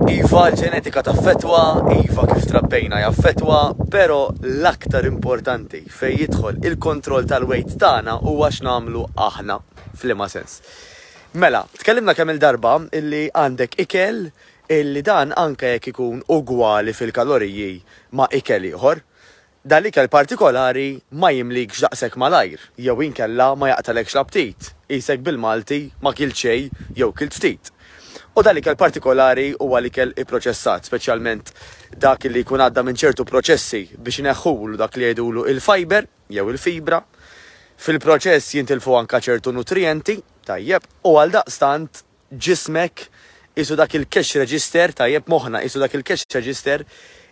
Iva, l-ġenetika taffettwa, iva kif trabbejna jaffettwa, però l-aktar importanti fejn jidħol il-kontroll tal-weight tagħna huwa x'nagħmlu aħna. F'liema sens? Mela, tkellimna kemm-il darba illi għandek ikel illi dan anke jekk ikun ugwali fil-kaloriji ma' ikel ieħor, Dal-ikel partikolari ma jimlikx daqshekk malajr jew inkella ma jaqtgħalekx l-aptit, qisek bil-Malti ma kilt xejn jew kilt ftit. U dal-ikel partikolari huwa l-ikel ipproċessat, speċjalment dak li jkun għadda minn ċertu proċessi biex ineħħulu dak li jgħidulu il-fiber jew il-fibra. Fil-proċess jintilfu anke ċertu nutrijenti, tajjeb, u għaldaqstant ġismek, qisu dak il-cash register, tajjeb, moħħna, qisu dak il-cash register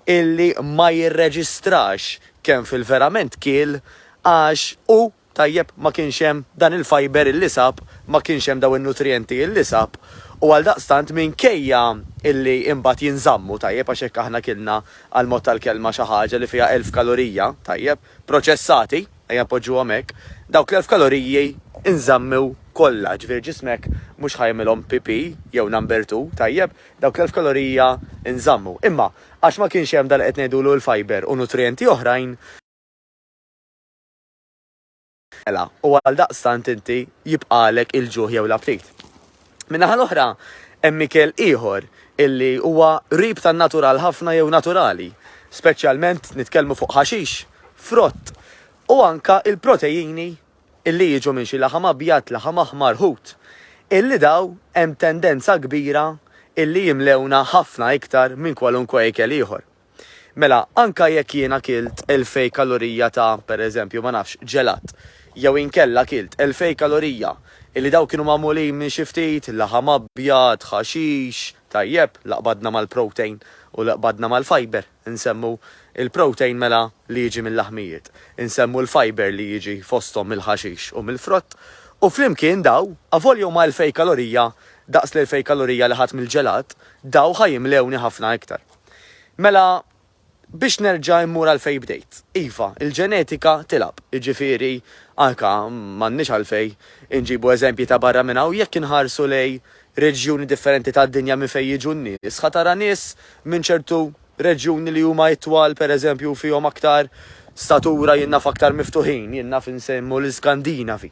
illi ma jirreġistrax kemm fil-verament kiel għax hu, tajjeb, ma kienx hemm dan il-fibre illi sab, ma kienx hemm dawn in-nutrijenti illi sab u għaldaqstant minkejja illi imbagħad jinżammu, tajjeb, għax jekk aħna kilna għall-mod tal-kelma xi ħaġa li fiha elf kalorija, tajjeb, proċessati, ejja npoġġuhom hekk, dawk l-elf kaloriji nżammew kollha, jiġifieri ġismek mhux ħa jagħmilhom pipì jew number two, tajjeb, dawk l-elf kalorija nżammu. Imma għax ma kienx hemm dak li qed ngħidulu l-fibre u nutrijenti oħrajn, Mela, u għaldaqstant inti jibqagħlek il-ġuħ jew l-aptit. Min-naħa l-oħra, hemm ikel ieħor illi huwa qrib tan-natural ħafna jew naturali, speċjalment nitkellmu fuq ħaxix, frott, u anke l-protejini illi jiġu minn xi laħam abjad, laħam aħmar, ħut, illi dawn hemm tendenza kbira illi jimlewna ħafna iktar minn kwalunkwe ikel ieħor. Mela, anke jekk jiena kilt elfej kalorija ta', per eżempju, ma nafx, ġelat, jew inkella kilt elfej kalorija illi dawk kienu magħmulin minn xi ftit laħam abjad, ħaxix, tajjeb, la qbadna mal-protein u la qbadna mal-fiber, insemmu l-protein mela li jiġi mil-laħmijiet, insemmu l-fiber li jiġi fosthom mill-ħaxix u mill-frott, u flimkien dawn, avolja huma elfej kalorija daqs l-elfej kalorija li ħadt mill-ġelat, dawn ħa jimlewni ħafna iktar. Mela, biex nerġa' mmur għal fejn bdejt, iva, il-ġenetika tilgħab, jiġifieri anke m'għandniex għalfejn inġibu eżempji ta' barra minn hawn, jekk inħarsu lejn reġjuni differenti tad-dinja minn fejn jiġu n-nies, ħa tara nies minn ċertu reġjuni li huma itwal, pereżempju, fihom aktar statura, jien naf aktar miftuħin, jien naf insemmu l-Iskandinavi.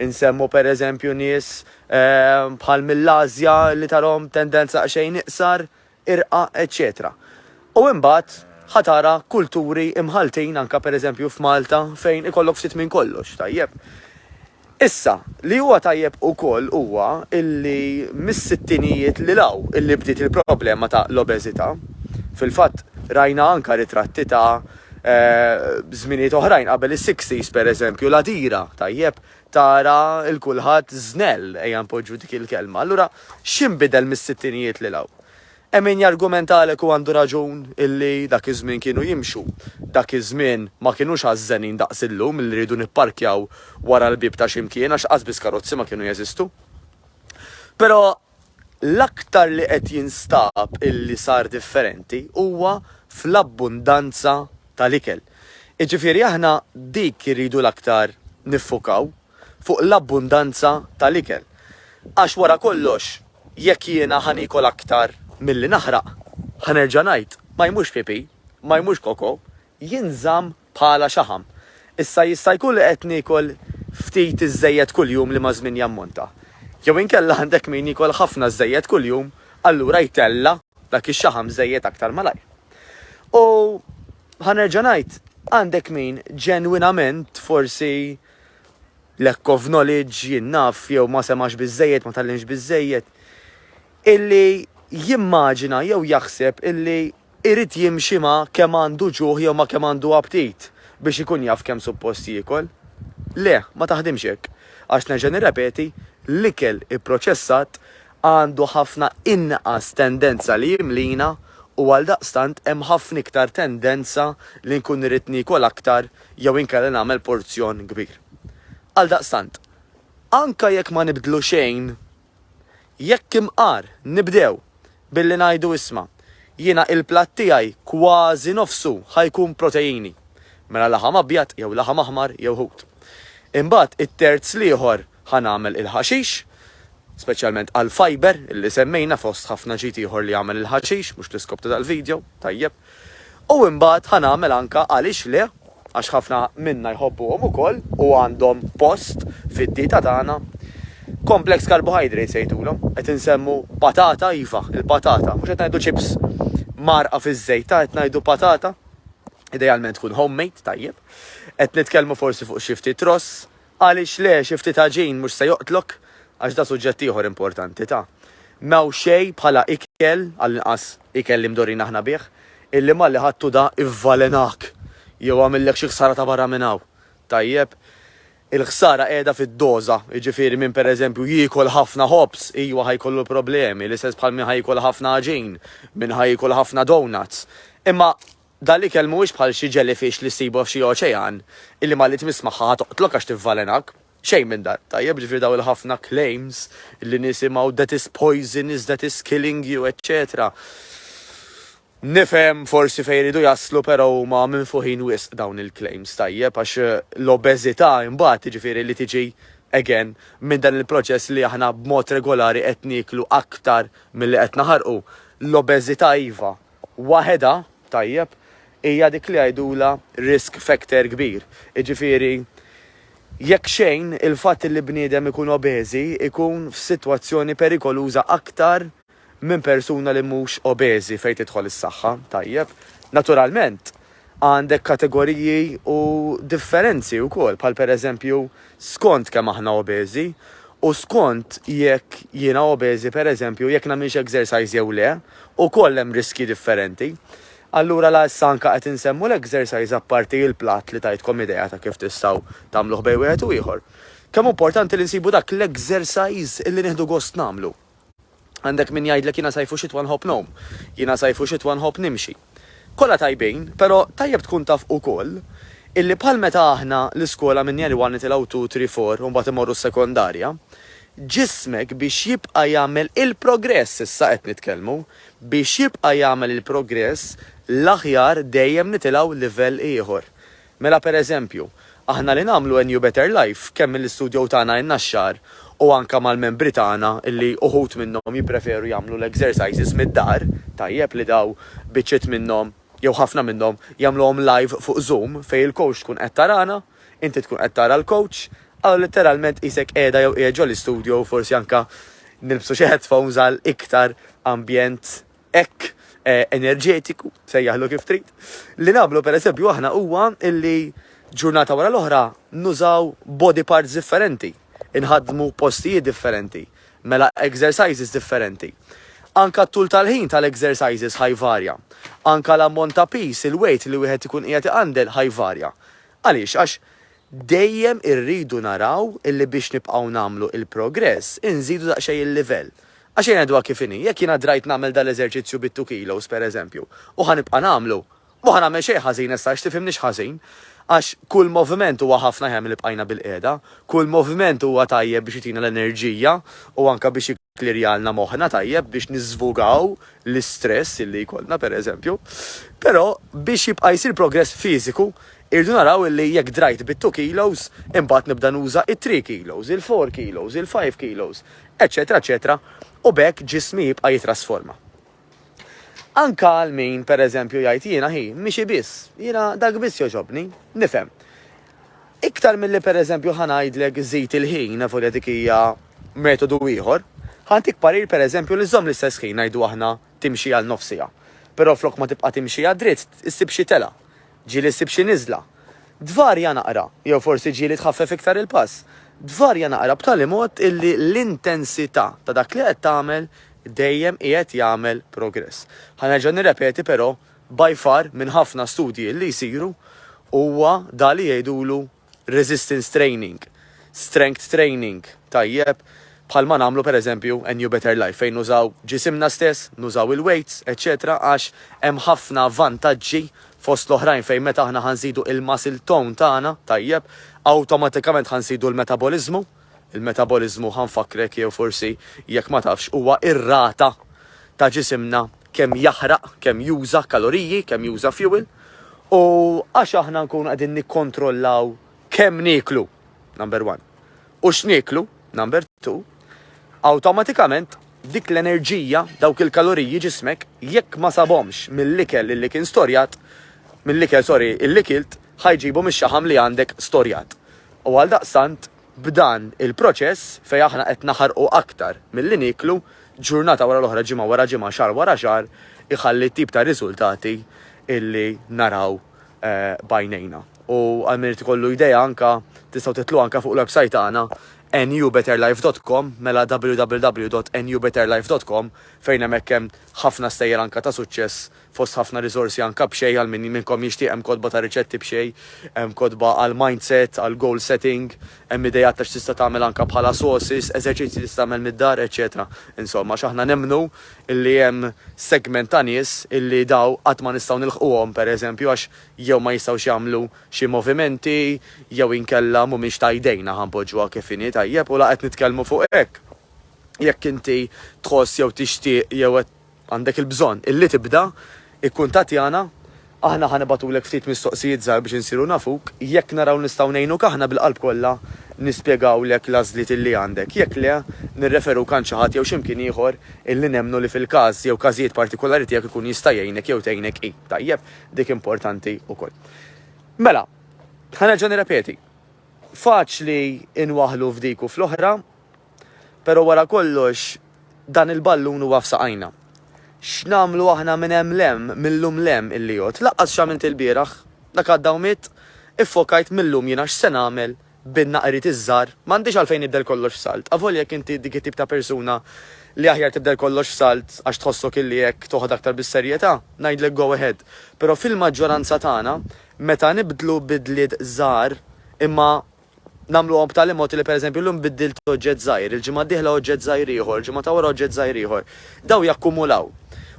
Insemmu pereżempju nies bħal mill-Ażja li tarahom tendenza daqsxejn iqsar, irqa eċċetera U imbagħad ħa tara kulturi imħalltin anke pereżempju f'Malta fejn ikollok ftit minn kollox, tajjeb. Issa, li huwa tajjeb ukoll huwa illi mis-sittinijiet lil hawn illi bdiet il-problema ta' l-obeżità. Fil-fatt rajna anke ritratti ta' żminijiet oħrajn qabel is-sixties pereżempju l-għadira, tajjeb, tara il kulħadd żnell, ejja npoġġu dik il-kelma. Allura x'inbidel mis-sittinijiet lil hawn? Hemm min jargumentalek u għandu raġun illi dak iż-żmien kienu jimxu. Dak iż-żmien ma kinux għażżenin daqs illum illi rridu nipparkjaw wara l-bieb ta' xi mkien għax qasbiss karozzi ma kienu jeżistu. Però L-aktar li qed jinstab illi sar differenti huwa fl-abbundanza tal-ikel. Jiġifieri aħna dik irridu l-aktar niffukaw, fuq l-abbundanza tal-ikel. Għax wara kollox jekk jiena ħa niekol aktar milli naħraq, ħa nerġa' ngħid, ma jmux pipì, ma jmux koko, jinżamm bħala xaħam. Issa jista' jkun li qed niekol ftit iżżejjed kuljum li maż-żmien jammonta. Jew inkella għandek min jiekol ħafna żżejjed kuljum, allura jtella' dak ix-xaħam żejjed aktar malajr. U, ħa nerġa' ngħid, għandek min ġenwinament forsi lack of knowledge, jien naf, jew ma semax biżżejjed, ma tgħallimx biżżejjed, illi jimmaġina jew jaħseb illi Irid jimxi ma' kemm għandu ġuħ jew ma' kemm għandu aptit biex ikun jaf kemm suppost jiekol? Le, ma taħdimx hekk. Għax nerġa' nirrepeti, l-ikel ipproċessat għandu ħafna inqas tendenza li jimlina u għaldaqstant hemm ħafna iktar tendenza li nkun irrid niekol aktar jew inkella nagħmel porzjon kbir. Għaldaqstant, anke jekk ma nibdlu xejn, Jekk imqar, nibdew billi ngħidu isma', jiena il-platt tiegħi kważi nofsu ħa jkun proteini, mela laħam abjad jew laħam aħmar jew ħut. Imbagħad it-terz l-ieħor ħa nagħmel il-ħaxix, speċjalment għall-fibre li semmejna fost ħafna ġid ieħor li jagħmel il-ħaxix, mhux l-iskop ta' dal-video, tajjeb. U imbagħad ħa nagħmel anke għaliex le, għax ħafna minna jħobbuhom ukoll u għandhom post fid-dieta tagħna, complex carbohydrates jgħidulhom. Qed insemmu patata, iva, il-patata. Mhux qed ngħidu chips mgħarrqa fiż-żejt, ta, qed ngħidu patata. Idealment tkun homemade, tajjeb. Qed nitkellmu forsi fuq xi ftit ross, Għaliex le, xi ftit għaġin mhux se joqtlok? Għax da suġġett ieħor importanti ta. M'hawn xejn bħala ikel, għall-inqas ikel li mdorrin aħna bih, illi malli ħadtu da ivvalenak jew għamillek xi ħsara ta' barra minn hawn. Tajjeb? Il-ħsara qiegħda fid-doża, jiġifieri min pereżempju jiekol ħafna ħobż, ijwa ħa jkollu problemi, l-istess bħal min ħa jiekol ħafna għaġin, min ħa jiekol ħafna donuts. Imma Dan l-ikel mhuwiex bħal xi jellyfish li ssibu f'xi oċean, illi malli tmiss magħha ħa toqtlok għax tivvalenak. Xejn minn dan. Tajjeb, ġifieri dawn il-ħafna claims li nisimgħu that is poisonous, that is killing you, eċċetera Nifhem forsi fejn iridu jaslu però huma minfuħin wisq dawn il-claims, tajjeb, għax l-obeżità imbagħad jiġifieri li tiġi again minn dan il-proċess li aħna b'mod regolari qed nieklu aktar milli qed naħarqu. L-obeżità iva, waħedha, tajjeb, hija dik li jgħidulha risk factor kbir. Jiġifieri, jekk xejn, il-fatt li bniedem ikun obeżi jkun f'sitwazzjoni perikoluża aktar minn persuna li mhux obeżi fejn tidħol is-saħħa, tajjeb. Naturalment, Għandek kategoriji u differenzi wkoll bħal pereżempju skont kemm aħna obeżi u skont jekk jiena obeżi pereżempju jekk nagħmilx exercise jew le, ukoll hemm riskji differenti. Allura la issa anke qed insemmu l-exercise apparti il-platt li tajtkom idea ta' kif tistgħu tagħmluh bejn wieħed u ieħor. Kemm hu importanti li nsibu dak l-exercise li nieħdu gost nagħmlu. Għandek min jgħidlek jiena sajf u xitwa nħobb ngħum. Jiena sajf u xitwa nħobb nimxi. Kollha tajbin, però tajjeb tkun taf ukoll illi bħal meta aħna l-iskola minn Year One nitilgħu Two, Three, Four u mbagħad immorru s-sekondarja, ġismek biex jibqa' jagħmel il-progress, issa qed nitkellmu, biex jibqa' jagħmel il-progress l-aħjar dejjem nitilgħu livell ieħor. Mela per eżempju, aħna li nagħmlu NU Better Life kemm mill-istudjow tagħna in-Naxxar u anke mal-membri tagħna li uħud minnhom jippreferu jagħmlu l-exercises mid-dar, tajjeb li daw biċċiet minnhom jew ħafna minnhom jagħmluhom live fuq Zoom fejn il-coach tkun qed tarana, inti tkun qed tara l-coach, allura litteralment tqisek qiegħda jew qiegħed ġol-istudjow forsi anke nilbsu xi headphones għal iktar ambjent hekk eh, enerġetiku, sejjaħlu kif trid, li nagħmlu pereżempju aħna huwa illi ġurnata wara l-oħra nużaw body parts differenti, inħadmu postijiet differenti, mela exercises differenti. Anka t-tul tal-ħin tal-exercises ħajvarja. Anka l-ammont ta' pis, il-weight li wieħed ikun qiegħed iqandel ħajvarja. Għaliex? Għax Dejjem irridu naraw illi biex nibqgħu nagħmlu il-progress inżidu daqsxejn il-livell. Għax ejja ngħiduha kif inhi, jekk jien adrajt nagħmel dan l-eżerċizzju bit-two kilos pereżempju, u ħa nibqa' nagħmlu, m'hu ħa nagħmel xejn ħażin issa għax tifhimnix ħażin. Għax kull moviment huwa ħafna aħjar milli bqajna bil-qiegħda. Kull moviment huwa tajjeb biex jtina l-enerġija u anke biex. Klirjalna moħħna tajjeb biex niżvugaw l-istress illi jkollna, pereżempju. Però, biex jibqa' jsir progress fiżiku, irridu naraw illi jekk drajt bit-two kilos, imbagħad nibda nuża it-three kilos, il-four kilos, il-five kilos, eċċetera, eċċetera, u b'hekk ġismi jibqa' jittrasforma. Anke għal min, per eżempju, jgħid jiena, hi, miexi biss, jiena dak biss jogħġobni. Nifhem. Iktar milli per eżempju ħa ngħidlek żid il-ħin, nafu li dik hija metodu ieħor, ħa ntik parir per eżempju li żżomm l-istess ħin ngħidu aħna timxi għal nofs siegħa. Però flok ma tibqa' timxi għad-dritt, issib xi telgħa. Ġieli ssib xi niżla. Tvarja naqra, jew forsi ġieli tħaffef iktar il-pass. Tvarja naqra b'tali mod illi l-intensità ta' dak li qed tagħmel dejjem qiegħed jagħmel progress. Ħa nerġa' nirrepeti però, by far, minn ħafna studji illi jsiru, huwa dak li jgħidulu resistance training, strength training tajjeb, bħal ma nagħmlu per eżempju a new better life fejn nużaw ġisimna stess, nużaw il-weights, eċċetera għax hemm ħafna vantaġġi fost l-oħrajn fejn meta aħna ħa nżidu il-muscle tone tagħna tajjeb, awtomatikament ħa nżidu l-metaboliżmu. Il-metaboliżmu, ħa nfakkrek jew forsi jekk ma tafx, huwa r-rata ta' ġisimna kemm jaħraq, kemm juża kaloriji, kemm juża fuel, u għax aħna nkunu qegħdin nikkontrollaw kemm nieklu, number one, u x'nieklu, number two, awtomatikament dik l-enerġija, dawk il-kaloriji ġismek jekk ma sabhomx mill-ikel illi kien storjat, mill-ikel sorry illi kilt, ħa jġibu mix-xaħam li għandek storjat. U għaldaqstant, b'dan il-proċess, fejn aħna qed naħarqu aktar milli nieklu, ġurnata wara l-oħra, ġimgħa wara ġimgħa, xahar wara xahar, iħalli t-tip ta' riżultati li naraw b'għajnejna. U għal min irid ikollu idea anke, tistgħu titlu anke fuq l-websajt tagħna newbetterlife dot com, mela www dot newbetterlife dot com, fejn hemmhekk hemm ħafna stejjer anke ta' suċċess Fost ħafna riżorsi anka b'xejn għal min minnkom jixtieq hemm kotba ta' riċetti b'xejn, hemm kotba għal mindset, għal goal setting, hemm ideat ta' x'tista' tagħmel anka bħala sources, eżerċizzji li tista' tagħmel mid-dar, eċċetera Insomma, għax aħna nemmnu illi hemm segment ta' nies illi daw qatt ma nistgħu nilħquhom, pereżempju, għax jew ma jistgħux jagħmlu xi movimenti jew inkella mhumiex ta' jdejna, ħa npoġġuha kif inhi, tajjeb, u la qed nitkellmu fuq hekk. Jekk inti tħoss jew tixtieq jew qed. Għandek il-bżonn illi tibda, ikkuntattjana, aħna ħa nibgħatulek ftit mistoqsijiet żgħar biex insiru nafuk, jekk naraw nistgħu ngħinuk aħna bil-qalb kollha nispjegawlek l-għażliet illi għandek, jekk le, nirreferuk għand xi ħadd jew x'imkien ieħor illi nemmnu li fil-każ jew każijiet partikulari tiegħek ikun jista' jgħinek jew tgħinek hi. Tajjeb, dik importanti wkoll. Mela, ħa nerġa' nirrepeti, faċli nwaħħlu f'dik u fl-oħra, Però wara kollox dan il-ballun huwa f'saqajna. X'nagħmlu aħna minn hemm 'l hemm, mil-lum 'l hemm, il-Liot? Laqqas x'għamilt il-bieraħ. Dak għadda u miet. Iffokajt mil-lum jiena x'se nagħmel bin-naqriet iż-żgħar. M'għandix għalfejn nibdel kollox f'salt. Avolja jekk inti dik it-tip ta' persuna li aħjar tibdel kollox f'salt għax tħossok illi hekk toħod aktar bis-serjetà, ngħidlek go ahead. Però fil-maġġoranza tagħna, meta nibdlu bidliet żgħar imma nagħmluhom b'tali mod li pereżempju llum biddilt oġġett żgħir, il-ġimgħa d-dieħla oġġett żgħir ieħor, il-ġimgħa ta' wara oġġett żgħir ieħor. Dawn jakkumulaw.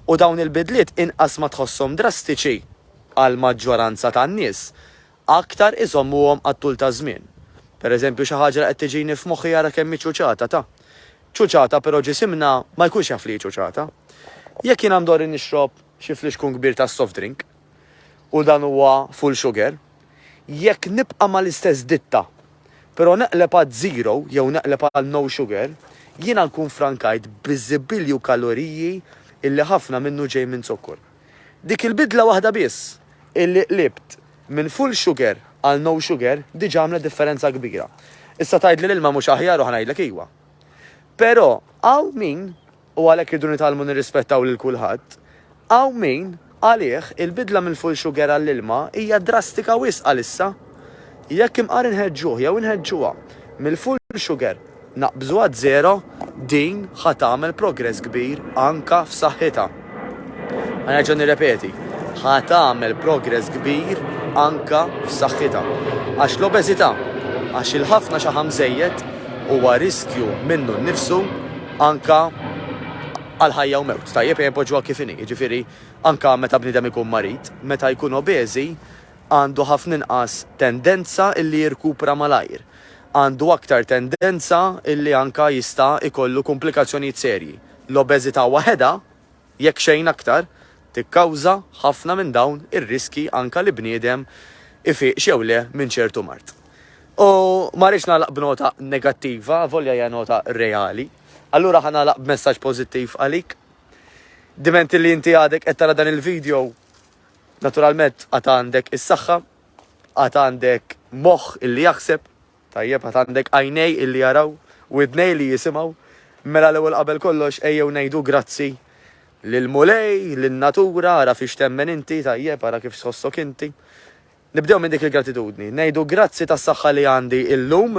U dawn il-bidliet inqas ma tħosshom drastiċi għall-maġġoranza tan-nies, aktar iżommuhom għat-tul taż-żmien. Pereżempju xi ħaġa li qed tiġini f'moħħi ara kemm hi ċuċata ta'. Ċuċata però ġisimna ma jkunx jaf li hi ċuċata. Jekk jiena ndorri nixrob xi flixkun kbir tas-soft drink. u dan huwa full sugar, jekk nibqa' mal-istess ditta, però neqleb għaz-zero jew neqleb għal no sugar, jiena nkun ffrankajt biżibilju kaloriji illi ħafna minnu ġej minn zokkor. Dik il-bidla waħda biss, illi qlibt minn full sugar għal no sugar, diġà għamlet differenza kbira. Issa tgħidli l-ilma mhux aħjar u ħa ngħidlek iwa. Però hawn min u għalhekk irridu nitgħallmu nirrispettaw lil kulħadd. Hawn min, għalih, il-bidla minn full sugar għall-ilma hija drastika wisq għalissa. Jekk imqar inħeġġuh jew inħeġġuha mill-full sugar naqbżu għaż-żero, din ħa tagħmel progress kbir anke f'saħħitha. Ħa nerġa' nirrepeti, ħa tagħmel progress kbir anke f'saħħitha. Għax l-obeżità, għax il-ħafna xaħam żejjed huwa riskju minnu nnifsu, anke għal ħajja u mewt, tajjeb ejja npoġġuha kif inhi, jiġifieri anke meta bniedem ikun marid, meta jkun obeżi għandu ħafna inqas tendenza illi jirkupra malajr, għandu aktar tendenza illi anke jista' jkollu kumplikazzjonijiet serji. L-obeżità waħedha Jekk xejn aktar, tikkawża ħafna minn dawn ir-riskji anke li bniedem ifiqx jew le minn ċertu mard. U ma rridx nagħlaq b'nota negattiva, avolja hija nota reali. Allura ħa nagħlaq b'messaġġ pożittiv għalik. Diment li inti għadek qed tara dan il-video, naturalment għad għandek is-saħħa, għad għandek moħħ illi jaħseb, Tajjeb, għad għandek għajnej illi jaraw, widnej li jisimgħu, mela l-ewwel qabel kollox ejjew ngħidu grazzi lill-Mulej, lin-natura, ara fiex temmen inti, tajjeb, ara kif tħossok inti. Nibdew minn dik il-gratitudni, ngħidu grazzi tas-saħħa li għandi illum,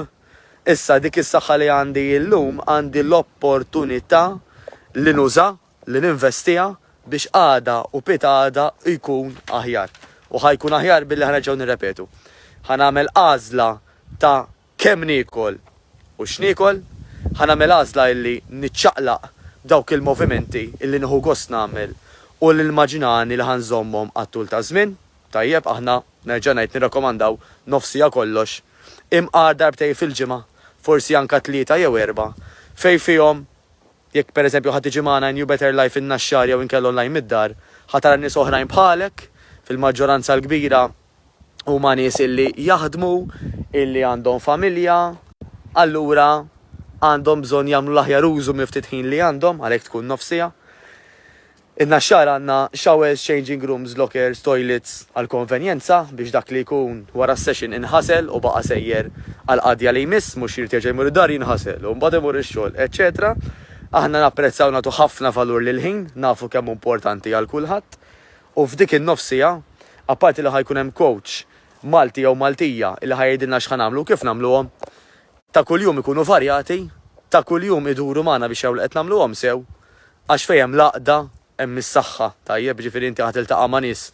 issa dik is-saħħa li għandi illum għandi l-opportunità li nuża li ninvestiha biex għada u pitgħada jkun aħjar. U ħa jkun aħjar billi ħa nerġgħu nirrepetu. Ħa nagħmel għażla ta' kemm niekol u x'niekol, ħa nagħmel għażla illi niċċaqlaq b'dawk il-movimenti illi nieħu gost nagħmel u li nimmaġinani li ħa nżommhom għat-tul taż-żmien. Tajjeb, aħna, nerġa' ngħid, nirrakkomandaw nofsija kollox, imqar darbtejn fil-ġimgħa, forsi anke tlieta jew erbgħa, fejn fihom, Jekk, per eżempju, ħa tiġi magħna in New Better Life fin-Naxxar jew inkella online mid-dar, ħa tara nies oħrajn bħalek, fil-maġġoranza l-kbira huma nies illi jaħdmu, illi għandhom familja, allura għandhom bżonn jagħmlu l-aħjar użu mill-ftit ħin li għandhom, għalhekk tkun nofs siegħa. In-Naxxar għandna showers, changing rooms, lockers, toilets għal konvenjenza biex dak li jkun wara s-session inħasel u baqa' sejjer għall-qadja li jmiss, mhux jrid jerġa' jmur id-dar jinħasel u mbagħad imur ix-xogħol, eċċetera Aħna napprezzaw nagħtu ħafna valur lill-ħin, nafu kemm hu importanti għal kulħadd u f'dik in-nofs siegħa, apparti li ħa jkun hemm coach Malti jew Maltija li ħa jgħidilna x'ħa nagħmlu u kif nagħmluhom, ta' kuljum ikunu varjati, ta' kuljum iduru magħna biex jaraw li qed nagħmluhom sew. Għax fejn hemm l-għaqda hemm is-saħħa, tajjeb? Jiġifieri inti ħa tiltaqa' ma' nies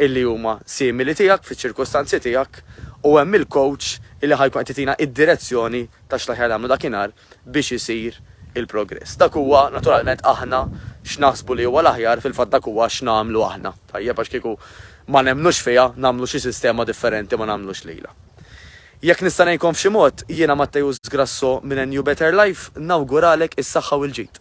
illi huma simili tiegħek fiċ-ċirkustanzi tiegħek u hemm il-coach illi ħa jkun qed jtina id-direzzjoni ta' x'l-aħjar nagħmlu dakinhar biex isir il-progress. Dak huwa naturalment aħna x'naħsbu li huwa l-aħjar fil-fatt dak huwa x'nagħmlu aħna, tajjeb? Għax kieku ma nemmnux fiha nagħmlu xi sistema differenti ma nagħmlux lilha. Jekk nista' ngħinkom f'xi mod, jiena Matteus Grasso minn NU Better Life nawguralek is-saħħa u l-ġid.